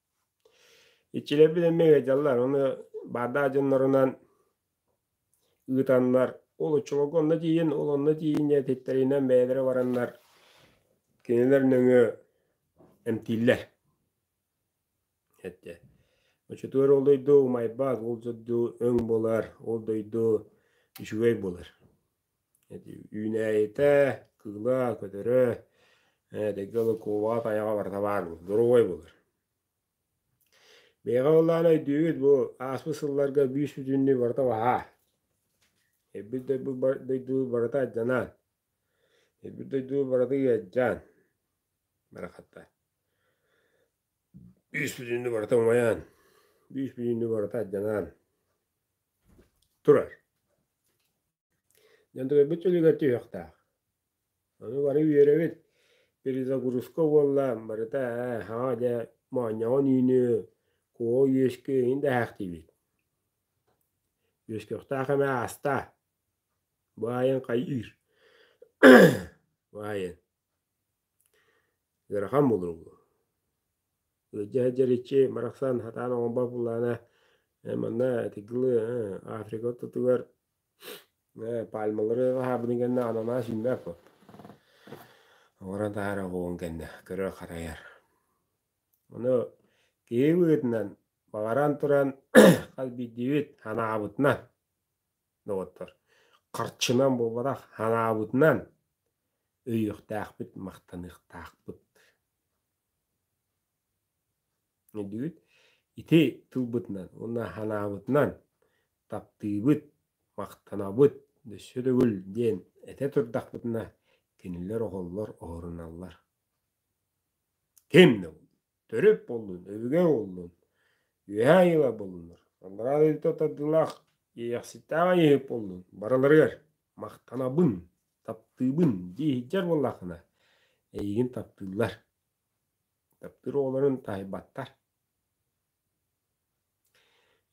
Иччилэрбит эмиэ ыалдьаллар, ону баардаах дьоннорунан ыытаннар, ол оччолорго онно тиийин, ол онно тиийин диэн этиттэринэн бэйэлэрэ бараннар, кинилэр нөҥүө эмтииллэр. Эттэ. Оччотугар ол дойду умайбат, ол дойду өҥ буолар, ол дойду үчүгэй буолар. үүнээйитэ, кыыла, көтөрө, эдэрги Лыкова тайаҕа барыта баар доруобай булар. Бэйэҕэ ыллаан өйдүүбүт бу ааспыт сылларга биис бүтүннүү барыта баһаа. Ирбит дойду барыта адьанаан. Ирбит дойду барыта ыалдьаан. Барахатта. Биис бүтүннүү барыта умайаан. Биис бүтүннүү барыта адьанаан. Турар. Дьандыгырбыт үлүгэр түһүөхтээх. Аны бары үөрөбүт. Перезагрузка буолла, барыта ээ, саҥа дьэ моонньоҕон үүнү, куо үөскү иһин да эһээхтиибит. Үөскүөхтээх эмэ аастаа. Бу аайын хайыыр. Бу аайын. Ыарахан буолуо. Ыалдьа сылдьарыччы барахсан сатаан оҥорбот буоллаҕына ээ манна итигилы ээ Африка ортотугар ээ пальмалары аһаабытын кэннэ ананаас үүммэт буол. Оҥорон таһаара оҕуруон кэннэ көрөр-харайар. Ону киһи быһыытынан баҕаран туран хас биирдиибит санаабытынан доҕоттор, харчынан буолбатах, санаабытынан өйүөхтээхпит, махтаныахтаахпыт. Өйдүүгүт? Ити тылбытынан уонна санаабытынан таптыыбыт, махтанабыт, өссө төгүл диэн этэ турдахпытына кинилэр оһоллор оһоруналлар. Ким да Төрүт буоллун, өбүгэ буоллун, үөһэ айыыла буоллуннар, аллараа дойдута тардыылаах иэйэхситтээх айыыһыт буоллун, барыларыгар махтанабын, таптыыбын дии сылдьар буоллаххына, эйигин таптыыллар. Таптыыр оҕолорун таһыйбаттар.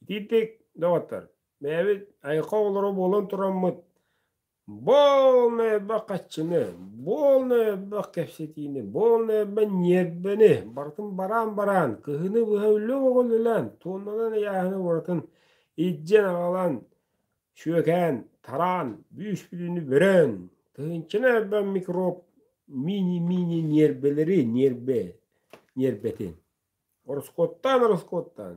Итиитик, доҕоттор, бэйэбит айылҕа оҕолоро буолан тураммыт Буолна элбэх хаччыны, буолна элбэх кэпсэтиини, буолна элбэх ньиэрбэни, барытын бараан-бараан, кыһыны быһа үлэ бөҕөлүлээн, туоннанан ыйааһыны уратын илдьэн аҕалан, сүөкээн, тараан, бүүс-бүтүнү бөрөөн, тыһыынчаны элбэх микроб мини-мини ньиэрбэлэри, ньиэрбэ, ньиэрбэтин. Ороскуоттаан-ороскуоттаан.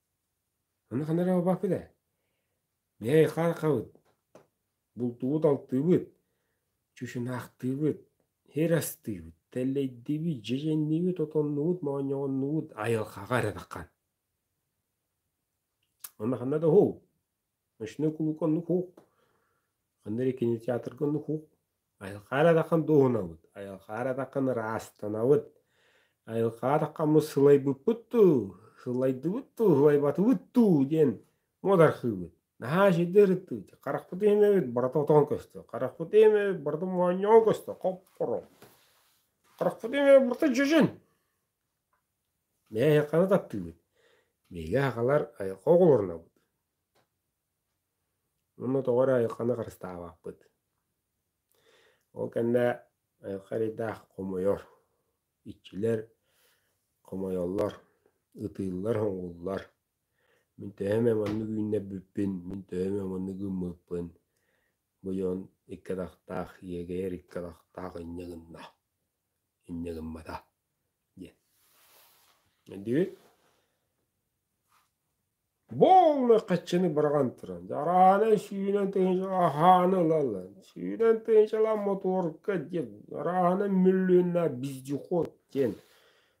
Аны ханна эрэ бабахпыт ээ. Мэй, хархабыт, бултубут алтыыбыт, чучунаахтыыбыт, иһэр астыыбыт, тэллэйдиибит, дьэдьэнниибит, отоннуубут, моонньоҕоннуубут, айылҕаҕа эрэ таххан. Онно ханна да уһул. Ночной кулук оннук Ханна эрэ кинотеатрга оннук Айылхаар атахан дуоһунабыт, айылхаар атахан ыраастанабыт, айылхаар атахаммыт сылайбыппыт дуу, сылайдыбыт дуу, сылайбатыбыт дуу диэн муодархыыбыт. Наһаа эчэйдии ырыттыбыт, харахпыт иһимэбит барыта отоон көстө, харахпыт иһимэбит барыта моонньоон көстө, хоп-хоро. Харахпыт иһимэбит барыта дьөдьөн. Мээ эһиэхэни таптыыбыт, биһиги аһаҕалар айылҕа оҕолорунабыт уонна тоҕо эрэ айылҕаны харыстаабаппыт. Ол кэннэ айылҕа эрэйдээх хомойор, иччилэр хомойоллор, ытыыллар-соҥууллар. Мин төһө эмэ маннык үүннэрбиппин, мин төһө эмэ маннык ыыммыппын быйон икки атахтаах иэгэйэр икки атахтаах инньэ гынна. инньэ гыммата диэн. Дии. Буолла хаччыны быраҕан туран. Арааны сүүнэн тыһыынча аһааны ылаллар. Сүүнэн тыһыынчалаан мотуорка диэн. Арааны мүллүнна вездеход диэн.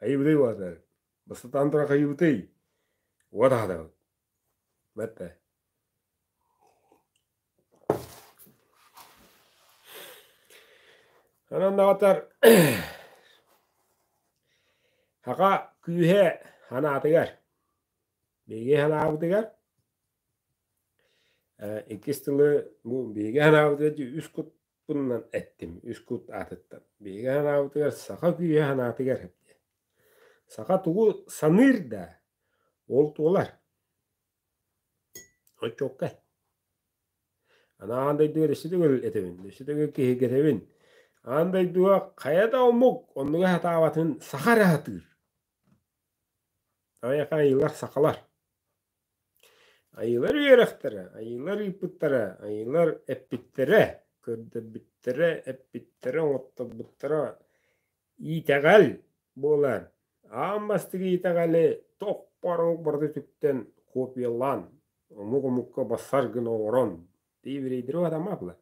Айыбытый уота, бастатаан туран хайыбытый? Уот аһатабыт. Бэтте. Онон даҕатар хака күүһэ санаатыгар, биһиги санаабытыгар иккис тылы биһиги санаабытыгар үс кут Пуппуннан эттим үс кут аатыттан. Биһиги анаабытыгар саха күйэ санаатыгар эппиэ. Саха тугу саныыр да ол туолар. Оччокка. Анаан дойдуга өссө төгүл этэбин, өссө төгүл киһиргэтэбин. Аан дойдуга хайа да омук оннуга сатаабатын саха эрэ сатыыр. Айаха айыылар сахалар. Айыылар үөрэхтэрэ, айыылар ыыппыттара, айыылар эппиттэрэ, көрдөрбүттэрэ, эппиттэрэ, оҥотторбуттара иитэҕэл буолан, аан бастакы иитэҕэли тохпорук барыта үтүктэн копиялаан, омук-омукка басар гына оҥорон биэбирэйдэри уһатымаатылар.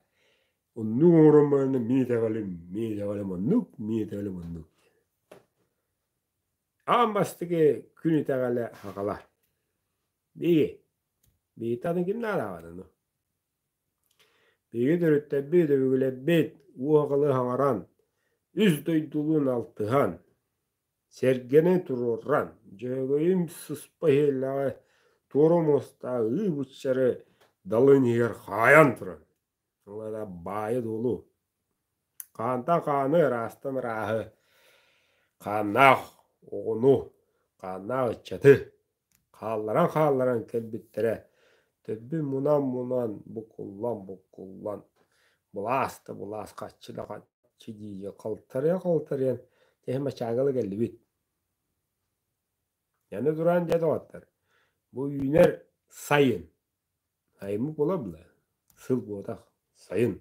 Оннук оҥорон баран мин иитэҕэлим, мин иитэҕэлим оннук, мин иитэҕэлим оннук диэн. Аан бастакы күн итэҕэлэ хаҕала. Биги, биһиги аны ким наадааҕын ону? Биһиги төрүттэбит, өбүгэлэрбит уоҕалы хаҥаран, үс дойдулуун алтыһан, сэргэнэ туруоран, Дьөөгөйүм сыспа иһэллээҕи туора муостааҕы ыы быччары далын иһигэр хаайан туран, Ылара баайы-дуолу, хаантан хааны ыраастан ырааһы, хааннаах оҕону, хааннаах ыччаты хаалларан-хаалларан кэлбиттэрэ төрдүн мунан-мунан, букуллан-букуллан, былаас-да-былаас, хаччы да хаччы диэки халтарыйан-халтарыйан эһи мачаангала кэллибит. Аны туран дьэ доҕоттор, бу үүнэр сайын Аймык буолабына, сыл буотах, сайын,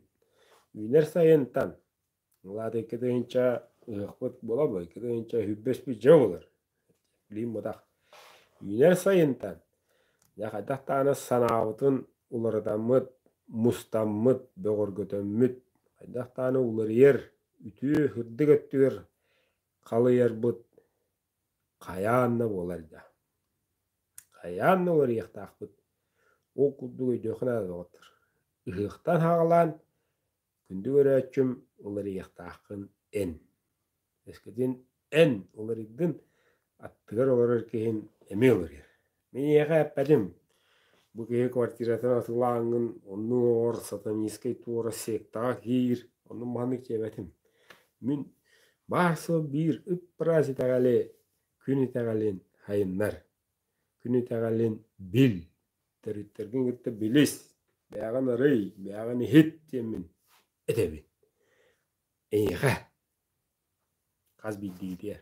үүнэр сайынтан, улаатыкка тыһыынча ыһыахпыт буолабыай, икки тыһыынча сүүрбэспит дьэ буолар. Билигин буотах үүнэр сайынтан дьэ хайдах даҕаны санаабытын уларытаммыт, мустаммыт, бөҕөргөтөммүт, хайдах даҕаны уларыйар, үтүө, ырдык өттүгэр халыйарбыт Хайаан да буолар да, хайаан да уларыйыахтаахпыт, ол курдук өйдүөххэ наада доҕоттор. Ыһыахтан хаалаан күндү көрөөччүм уларыйыахтааххын эн. Өскөтүн эн уларыйдын, аттыгар олорор киһин эмиэ уларыйар. Миэхэ эппэтим, бу киһи квартиратын атылааҥҥын, оннук оҥор, сатанинскай туора сектаҕа киир, онон маннык диэбэтим. Мин баар сыл биир ып-ыраас итэҕэли, күн итэҕэлин сайыннар. Күн итэҕэлин бил, төрүттэргин кытта билис, бэйэҕин арый, бэйэҕин иһит диэммин этэбин. Эйиэхэ хас биирдигитигэр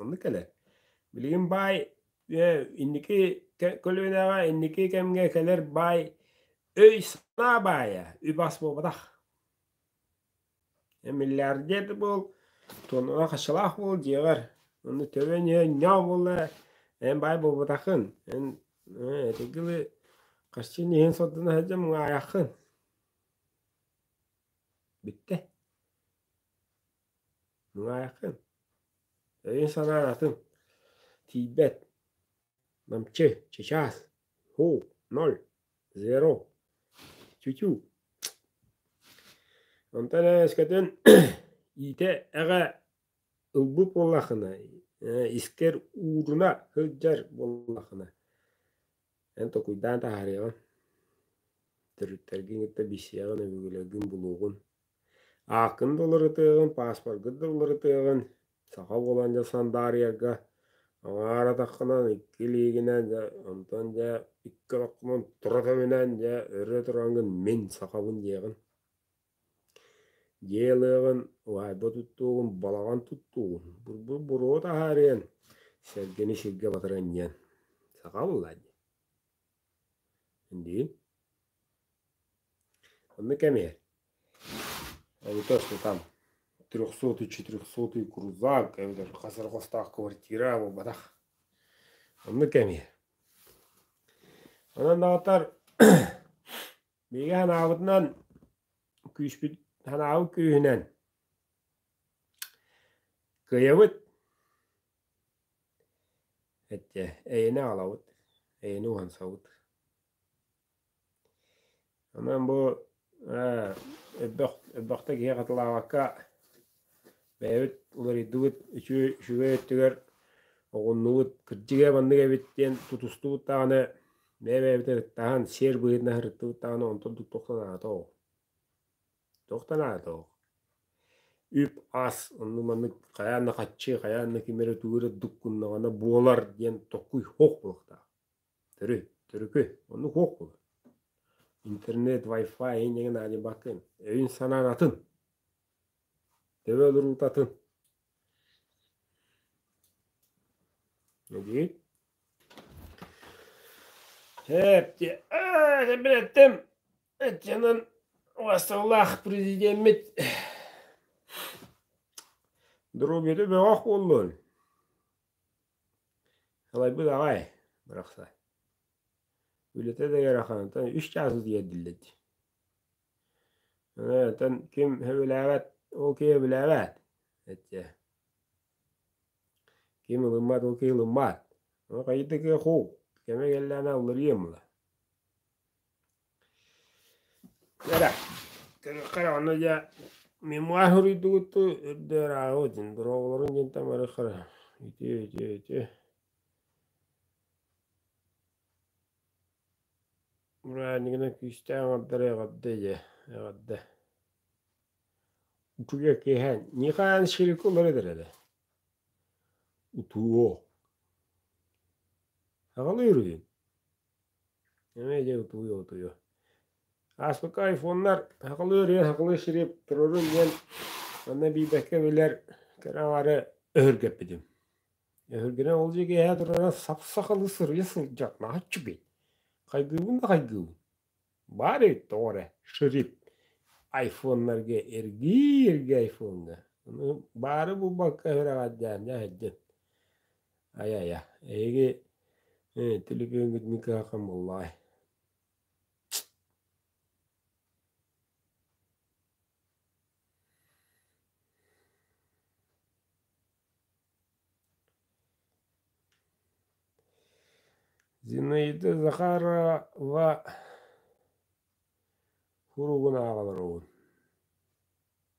Онну кэлэн, билигин баай инники көлүөнэҕэ инники кэмҥэ кэлэр баай өй-санаа баайа үбас буолбатах. Миллиардер буол, туонуга хачалаах буол диэҕэр, онно төбөн ньоо буолла эн баай буолбатаххын, эн этигили хаччын иһин сотдана сылдьан муҥаайаххын. Бүттэ. Нуайкын, өйүн-санаан атын, тиийбэт, намчы, чычаас, һуу, ноль, зеро, чүчүү. Онтон эскэтин иитэ эҕэ ылбыт буоллахына, искэр ууруна сылдьар буоллахына, эн токуйдаан таһаарыаҕын, төрүттэргин кытта билсиэҕин, өбүгэлэргин булуоҕун. Ааккын да уларытыаҕын, пааспаргыт да уларытыаҕын, саха буолан дьэ сандаарыйарга аҥаар атаххынан, икки илиигинэн дьэ онтон дьэ икки олоххунан тура көмүнэн дьэ өрө тураҥҥын мин сахабын диэҕин. Дьиэ ылыаҕын, уһаайба туттуугун, балаҕан туттуугун, бурбул буруо таһаарыан, сэргэни сиргэ батаран иһиэн. Саха буоллаа дии. Индиин. Онно кэми эбэтэ устутан трехсотый четырехсотый крузак эбэтэр хасарҕастаах квартира буолбатах. Онно кэми. Онон даҕатар биһиги санаабытынан күүспүт санаабыт күүһүнэн кыйабыт Эттэ эйэни аҕалабыт, эйэни уһансабыт. Онон бу элбэх элбэхтэ киһи хатылаабакка бэйэбит уларыйдыбыт, үчүгэй үчүгэй өттүгэр оҕуннубут, кырдьыга маннык эбит диэн тутустубут даҕаны бэйэ-бэйэбитин ырыттаһан, сиэр быһыытынан ырыттыбыт даҕаны онтон туттуох санаата ол. Туох да наадатыгар үп-ас онно маннык хайаан да хаччы, хайаан да ким эрэ тугу эрэ дуккуннаҕына буолар диэн токкуй суох буолуохтаах. Төрү, төрүкү, оннук суох буолар. Интернет, Wi-Fi иһин эҥин аадьыбаккын, өйүн-санаан атын. Төбө олоруута атын. Эдьиийит? Һээпти, ээ, сэмбин эттим. Итинэн басталлаах президеммит доруобуйата бөҕөх буоллун. Халайбыт аҕай барахсан. Үлэтэ да ыарахантан үс чаас тиэрдиллэр дии. Онтон ким сөбүлээбэт, ол киһи сөбүлээбэт. Эттэ. Ким ылыммат, ол киһи ылыммат. Ону хайытык куу. Кэме кэллээнэ уларыйым ла. Эра, кэрэхэ даҕаны дьэ мин муоһа суруйдугуттуу үрдү ырааҕы дин дорооболоруҥ диэн тамары харыһа үтүө үтүө үтүө мураанньыгынан күүстээх оҥордоро эҕэрдэ ийээ эҕэрдэ утуйа киэһэ Ньыкаан Ширику олордор эрэ утуо аҕалыыр үһүн эмиэ дьэ утуйуо утуйуо ааспыкка айфоннар сахалыы ырыа сахалыы сири толорун диэн манна биэрбэккэ билэр кэрэ аҕары өһүргэппитим өһүргэнэн ол дьиэ киэһэ турара сап сахалыы сырыйа сылдьар нааччыгый хайгыыбын да хайгыыбын баар эбит тоҕо эрэ ширип айфоннарга эргии эргии айфоҥҥа аны баары булбакка өһүрэҕэддээн дьэ сылдьан Ай-айа, эһиги э, телепиэҥҥит мин кыһакам буоллаҕай? Зинаида Захарова суругун ааҕа олоробун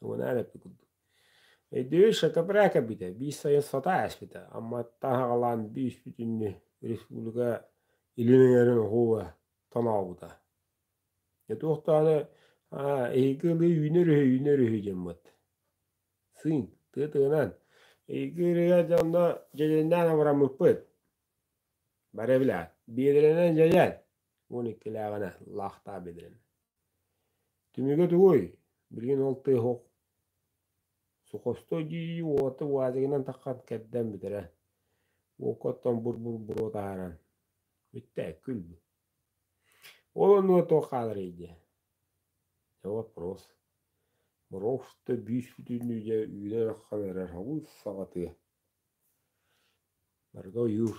Унаан эппит курдук Өйдүүр шатабра кэлбитэ, биир сайын сатаа ээспитэ, Амматтан хаҕалаан биир бүтүннүү республика илин эҥэрин уһууга тонообута. Дьэ туохтааны эһиги ылыы үүнэр үһү, үүнэр үһү диэммит. Сыыҥ, тыа тыынан, эһиги ырыа дьонно дьэдьэннээн абыраммыппыт. Бары билээт, биэдэрэнэн дьэдьэн, уон иккилээҕинэ лаахтаа биэдэрэнэ. Түмүгэ тугуй, билигин ол тыа оһох сухостой дии уота уазигынан таххан кэрдэн бүтэрэ. Уокка оттон бур-бур-буруо таһааран бүттэ күл-бу. Ол оннуга туох хааларый дии. Дьэ вопрос. Боровсто биис бүтүннүү дьэ үүнэ ыраххан эрэр һабыыс саҕатыа. Барыта ойуур.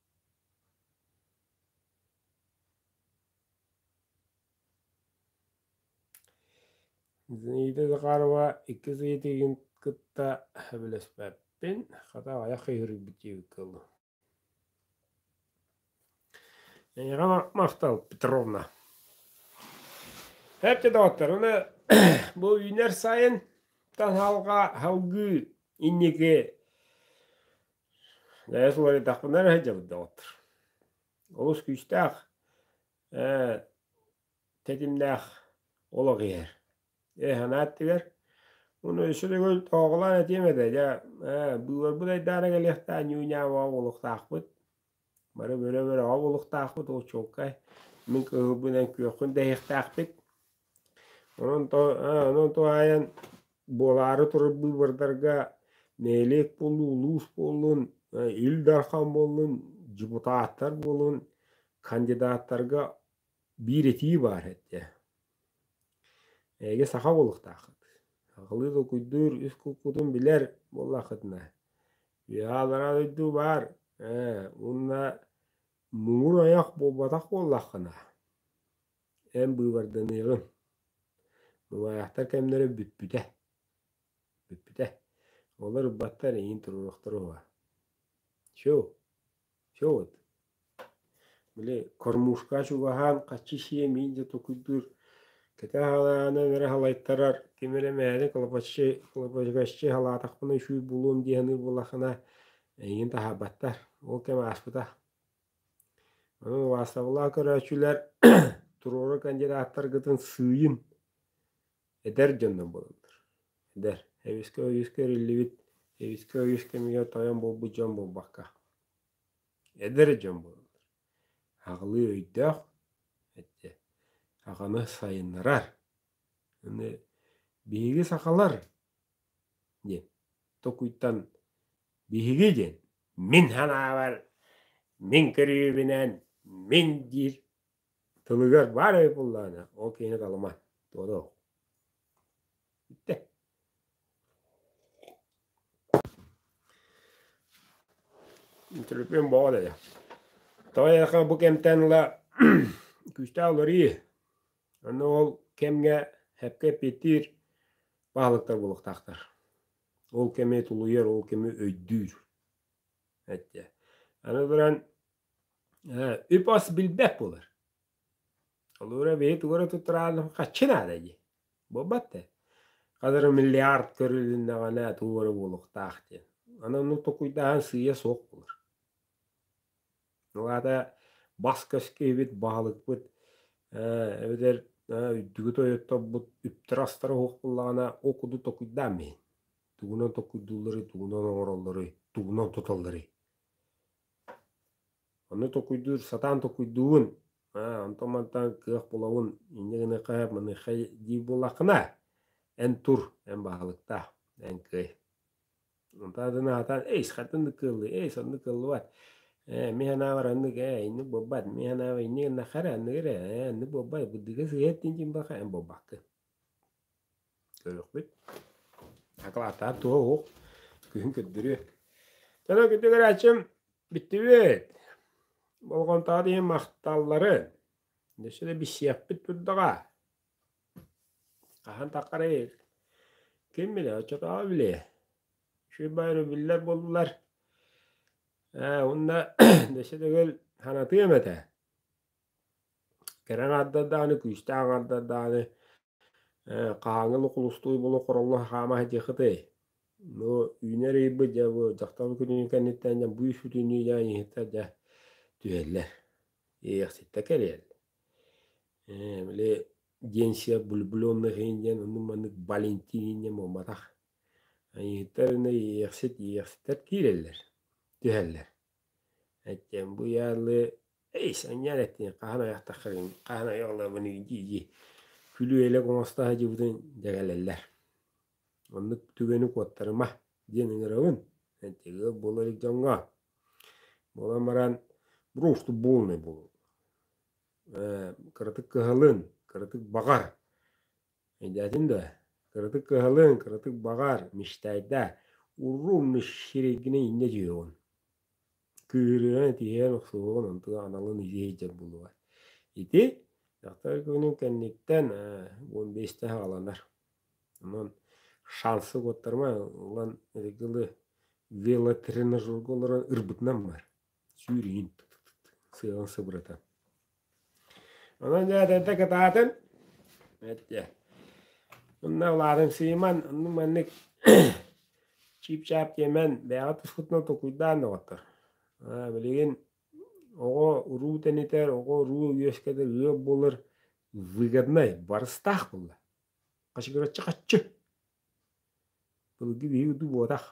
Зинаида Захарова иккис ыйытыгын кытта сөбүлэспэппин, хата аҕыйах ыйыырыйбыт диэбиккэ дылы. Эйэҕэ Махтал Петровна. Эпте доҕотторуна бу үүнэр сайын таһалга халгыы инники Ээ суларыйдахпына эрэ сылдьабыт доҕоттор. Олус күүстээх, ээ тэтимнээх олох иһэр. Ээ санаа өттүгэр ону өссө төгүл тоҕоҕолоон этиэм этэ дьэ ээ быыбарбыт айдаана кэлиэхтээн ньууньаабаҕа буолуохтаахпыт Бары бөрө-бөрөҕө булуктаахпыт, очуоккай мин кыһылбын эн күөххүн дэһиэхтээхпит. Онон то онон туһаайан буолаары турар быыбардарга нэһилиэк буоллун, улуус буоллун, Ил Дархан буоллун, депутаттар буоллун, кандидаттарга биир этии баар этэ. Эһиги саха булуктааххыт. Хахылыы толкуйдуур үс куккутун билэр буоллаххытына, Иһалара дойду баар ээ уонна муҥур ойох буолбатах буоллаххына эн быыбарданыаҕыҥ мумайахтар кэмнэрэ бүппүтэ бүппүтэ олор ырбаттар эйиин туруоруохтара уо чу Чэ уот, били кормушка чугаһаан хаччы сиэмиин да тукуйдуур кэтэх аһылаанын эрэ салайтарар, ким эрэ мээнэ лопаччы лопачыгаччы салаатахпына үчүгэй буолуом дии саныыр буоллаххына эйигин таһаарбаттар, ол кэм ааспыта. Онон убаастабыллаах көрөөччүлэр туруору кандидаттаргытын сыыйын Этэр дьоннор буолаллар. Эдэр, эбискэ өйүскэ эриллибит, эбискэ өйүс кэмигэр тойон буолбут дьон буолбакка, эдэр дьон буолаллар. Аҕылыы өйдөөх, эчи, аҕаны сайыннарар. Аны биһиги сахалар диэн токуйтан биһиги диэн мин санаабар, мин көрүүбүнэн, мин диир Тылыгар баар эбит буоллаҕына, ол киһини талыма, туох да уһук. Бүттэ. Интервьюм боо дайа. Тоҕо айахан бу кэмтэн ыла күүстээх уларыы, аны ол кэмҥэ эпкэ эппиэттиир баһылыктар буолуохтаахтар. Ол кэми тулуйар, ол кэми өйдүүр. Эттэ. Аны туран Үп-хос билбэт буолар. Холурура биһи тугу туттураалым хаччы наада дии. Буолбат да. Ханырым миллиард көрүлүннэҕинэ туора буолуохтаах диэн. Аны ону токуйдаһан сыыйа суох буолар. Ол аата бас-көс киһибит, баһылыкпыт эбэтэр үрдүгү тойотторбут үптэр-астара суох буоллаҕына ол курдук токуйдаан иһин. Тугунан токуйдуулларый, тугунан оҥороллоруй, тугунан туталларый? Ону токуйдуур, сатаан токуйдуугун, аа, онтон-мантан кыах булабын, инньэ гыныахха сөп, маныахха дии буоллаххына, эн тур, эн баһылыктаах, эн кыай. Онтон атын аһатан, эйс, хантан да кыаллыы, эйс, онно кыаллыбат, ээ, мин санаабар аннык, ээ, инник буолбат, мин санаабар инник гыннахха эрэ, аннык эрэ, ээ, аннык буолбат, быдыыга сыһыаттыын дьин буоллахха, эн буолбаккын. Көрөхпүт. Акылааттаах туо уһук. Күһүн көрдөрүө. Дьоно күндү көрөөччүм, бүттүбүт. Болҕомтоҕо диэн махталларын. Өссө да билсиэхпит турдаҕа. Хаһан таххарый? Ким билэ, оччотооҕу билиэ. Шибай рубиллер буллулар. Ээ, уонна өссө төгүл санатыам этэ. кэрэ аҥардардааны, күүстээх аҥардардааны хаһааҥҥы лукулустуй булу хороҥҥо хаама сытыахытый? Ну, үүнэр ыйбыт дьэ бу дьахтар күнүн кэнниттэн дьэ быыс бүтүннүү дьэ ыйыһыттар дьэ түһэллэр, иэйэхситтэр кэлиэллэр. били Денсия влюбленных иһин диэн оннук-маннык Валентин иһин диэн буолбатах. Ыйыһыттар аны иэйэхсит, иэйэхситтэр киирэллэр, түһэллэр. Эттиэм бу ыйаалыы «Эй, санньаан эттиҥ, хаһан айахтаххыгын, хаһан айаҕалаабыный?» дии-дии күлүү-элэк оҥосто сылдьыбытын дьэгэлэллэр. Оннук түгэни куоттарыма диэн ыҥырабын эттигэ буола илик дьоҥҥо. Буолан баран «Просто полный буол» кыратык кыһалын, кыратык баҕар Эйдээтин дуо? Кыратык кыһалыҥ, кыратык баҕар, мичтайдаа, урруу мичсиригинэ иннэ түһүөҕүн. Кыырыан, этиһэн, охсуһуон, онтуга аналын илии сылдьар буолуоҕа. Ити дьахтар күнүн кэнниттэн уон биэстэ хааланар. Онон шансы угуттарма ылан ыргылы велотренажерга олорон ырбытынан бар. сүүрүүн сыаҕын сыбырата. Онон дьаатанта кытаатын эттэ. Онна улаатын сыйман, онну маннык чип-чаап тиэмэн бэйэҕэ тускутуна токуйдаан доҕоттор. Билигин оҕо уруу тэнитэр, оҕо уруу үөскэтэр, ыал буолар выгоднай, барыстаах буолла. Хачыгыраччы хаччы. Былыргы биһиги дуу буотах,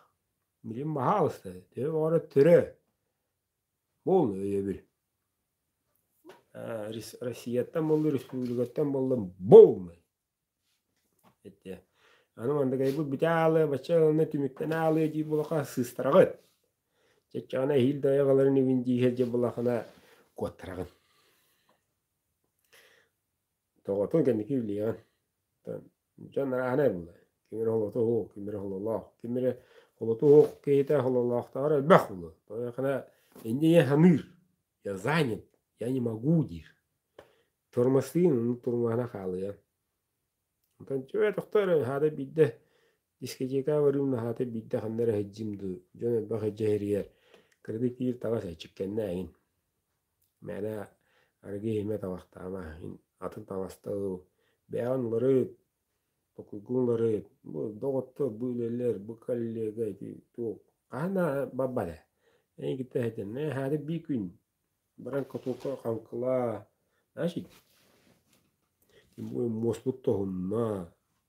билим баһа алыста, төбө баҕара төрөө, буол өйөбүл. Россияттан буолла, республикаттан буолла, буолмай. Аны мандагайбыт бүтэ аалыа, бачча ылына түмүктэн аалыа дии булаха сыыстараҕыт. Чаччаҕына эһиил да айаҕаларын ивин дииһэ дьэ булахына куоттараҕын. Тоҕотун кэнники үллүйэҕин. Дьон арааһынай буолар. Ким эрэ холото уһук, ким эрэ хололоох, ким эрэ холото уһук киһитэ хололоохтооҕор элбэх буолуо. Һойуохана инде я саныыр, я занят, я не могу диир. Тормозтыын оннук тормоһуна хаалыа. Онтон дьэ тохтоор аһаата биирдэ Дискотекаҕа барыым наһаата биирдэ ханна эрэ иһдьим дуу, дьон элбэх иһдьиһэригэр кыратык тиийир таҥас эрчиккэннээҥин. Мээнэ арыгы иһимэ табахтаама, мин атын таҥастабыл бэйэҕин уларыт, токуйгун уларыт, бу доҕоттор, бу үлэлэр, бу коллега ити туох хаһан да барбат ээ. Эйигиттэн иһдьэн наһаата биир күн баран котуокка хаҥкылаа, значит муоспут тоһунна.